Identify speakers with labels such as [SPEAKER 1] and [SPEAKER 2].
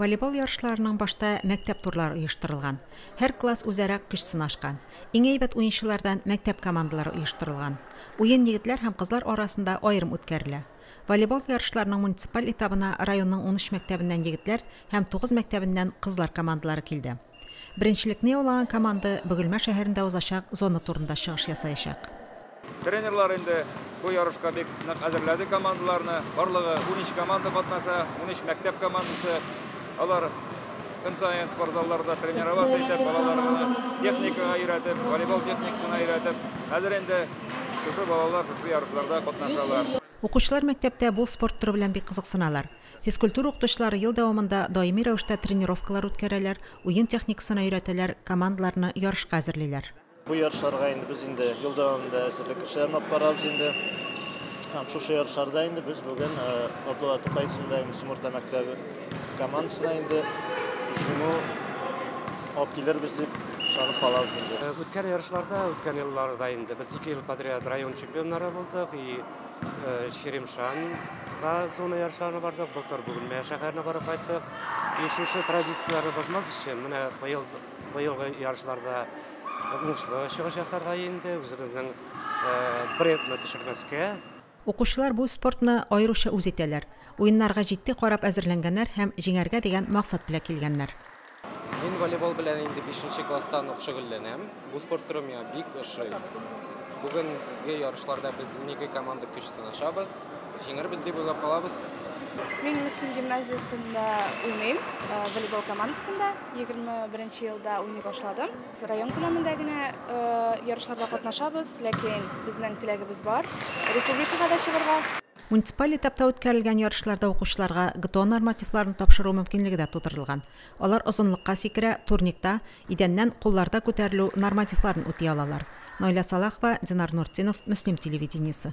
[SPEAKER 1] Волейбол ярышларының башта мәктәп турлары оештырылган. Һәр класс үзара көч сынашкан. Иң әйбәт уенчылардан мәктәп командалары оештырылган. Уен егетләр һәм кызлар арасында аерым үткәрелә. Волейбол ярышларының муниципаль этабына районның унөч мәктәбеннән егетләр һәм тугыз мәктәбеннән кызлар командалары килде. Беренчелекне яулаган команда Бөгелмә шәһәрендә узачак зона турында чыгыш ясаячак. Тренерлар
[SPEAKER 2] инде бу ярышка бик нык әзерләде командаларны. Барлыгы унөч команда катнаша, унөч мәктәп командасы. Алар көн саен спортзалларда тренироваться итеп, балаларны техникага өйрәтеп, волейбол техникасына өйрәтеп, хәзер инде шушы балалар шушы ярышларда катнашалар. Укучылар мәктәптә
[SPEAKER 1] бу спорт төре белән бик кызыксыналар. Физкультура укытучылары ел дәвамында даими рәвештә тренировкалар үткәрәләр, уен техникасына өйрәтәләр, командаларны ярышка әзерлиләр. Бу ярышларга
[SPEAKER 3] инде без инде ел дәвамында әзерлек эшләрен алып барабыз инде. Һәм шушы ярышларда инде без бүген Абдулла Тукай исемендәге Мөслим урта мәктәбе командасына инде җиңү алып килербез дип ышанып калабыз инде. Үткән ярышларда,
[SPEAKER 4] үткән елларда инде без ике ел подряд район чемпионнары булдык и Чирмешанга зона ярышларына бардык, былтыр Бүгенмә шәһәренә барып кайттык. И шушы традицияләрне бозмас өчен, менә быел быелгы ярышларда уңышлы чыгыш ясарга инде, үзебезнең брендны төшермәскә. Укучылар бу
[SPEAKER 1] спортны аеруча үз итәләр. Уеннарга җитди карап әзерләнгәннәр һәм җиңәргә дигән максат белән килгәннәр. Мин
[SPEAKER 5] волейбол белән инде 5 класстан ук шөгыльләнәм. Бу спорт төрем миңа бик ошый. Бүгенге ярышларда без 12 команда көч сынашабыз. Җиңербез дип уйлап калабыз. Мин Мөслим
[SPEAKER 6] гимназиясендә уйныйм, э, волейбол командасында. 21 елда уйный башладым. Район күләмендә генә э, ярышларда катнашабыз, ләкин безнең теләгебез бар республикага да чыгарга. Муниципаль этапта
[SPEAKER 1] үткәрелгән ярышларда укучыларга ГТО нормативларын тапшыру мөмкинлеге дә тудырылган. Алар озынлыкка сикерә, турникта, идәннән кулларда күтәрелү нормативларын үти алалар. Наилә Салахова, Динар Нуртдинов, Мөслим телевидениесе.